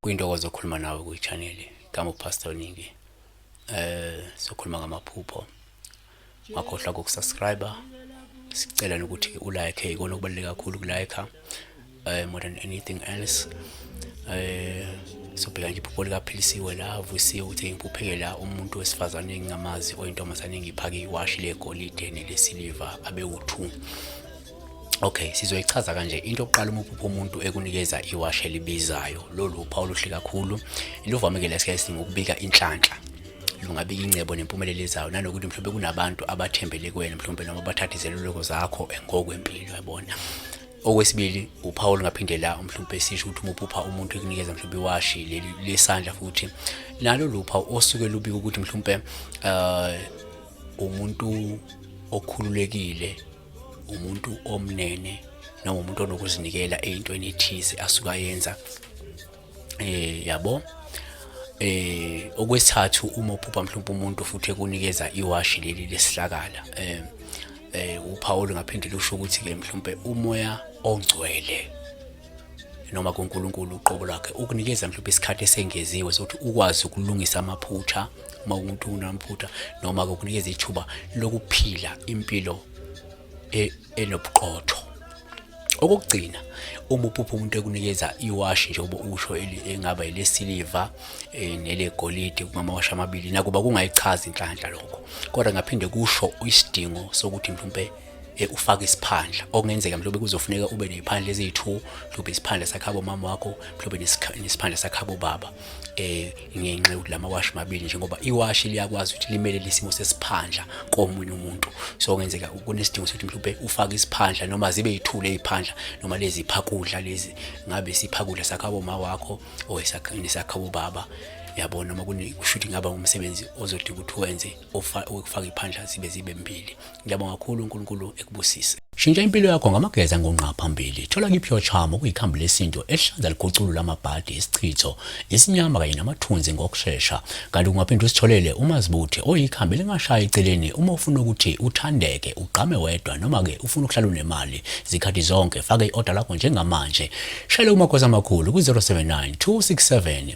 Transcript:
Kuyintokozo ukukhuluma nawe kwi-channel Gama uPastor Ningi. Eh sokhuluma ngamaphupho. Ngakhohlwa ukusubscribe. Sicela ukuthi ulike ikona okubaluleke kakhulu kulike. um more than anything else um sobheka nje iphupho likaphilisiwe la avusiwe ukuthi ngiphupheke la umuntu wesifazane engingamazi oyintombazane engiphake iwashi legolide nelesiliva abewuthu Okay, sizoyichaza kanje into oqala uma uphupha umuntu ekunikeza iwashi elibizayo. Lolu uphawu luhle kakhulu. Luvamekele sikhathi ngokubika inhlanhla. Lungabika ingcebo nempumelelo ezayo nanokuthi mhlawumbe kunabantu abathembele kuwena mhlawumbe noma bathathe izeluleko zakho engokwempilo yabona. okwesibili uPaul ngaphinde la mhlawumbe sisho ukuthi umuphupha umuntu ekunikeza mhlawumbe iwashi leli lesandla futhi nalo lupha osuke lubika ukuthi mhlawumbe uh, umuntu okhululekile umuntu omnene noma umuntu onokuzinikela eyintweni ethize asuka yenza eh yabo eh okwesithathu uma uphupha mhlawumbe umuntu futhi ekunikeza iwashi leli lesihlakala eh eh uPaul ngaphinde lusho ukuthi ke mhlawumbe umoya ongcwele noma kuNkulunkulu uqobo lwakhe ukunikeza mhlawumbe isikhathi esengeziwe sokuthi ukwazi ukulungisa amaphutha uma umuntu unamaphutha noma ukunikeza ithuba lokuphila impilo e, enobuqotho okokugcina uma uphupha umuntu ekunikeza iwashi njengoba usho engaba elesiliva eh, nelegolide kungamawashi amabili nakuba kungayichazi inhlanhla lokho kodwa ngaphinde kusho isidingo sokuthi mhlawumbe Eh, ufake isiphandla okungenzeka mhlawumbe kuzofuneka ube neziphandla eziyi-2 mhlawumbe isiphandla sakhabo mama wakho mhlawumbe nesiphandla sakhabo baba eh ngenxa yokuthi la mawashi mabili njengoba iwashi liyakwazi ukuthi limele lesimo sesiphandla komunye umuntu so kungenzeka kunesidingo sokuthi mhlawumbe ufake isiphandla noma zibe yithule iphandla noma lezi phakudla lezi ngabe siphakudla sakhabo ma wakho or isakhini sakhabo baba yabona uma kunekushuthi ngaba umsebenzi ozodinga ukuthi wenze ofaka iphandla zibe zibe mbili Ngiyabonga kakhulu uNkulunkulu ekubusise. Shintsha impilo yakho ngamageza ngonqa phambili. Thola kipure charm okuyikhambi lesintu elihlanza liguculula amabhadi, isichitho, isinyama kanye namathunzi ngokushesha. Kanti ungaphinde usitholele umazibuthe oyikhambi elingashayi eceleni uma ufuna ukuthi uthandeke, ugqame wedwa noma ke ufuna ukuhlala unemali zikhathi zonke. Faka i-order lakho njengamanje. Shayela uMagwaza amakhulu ku-079 267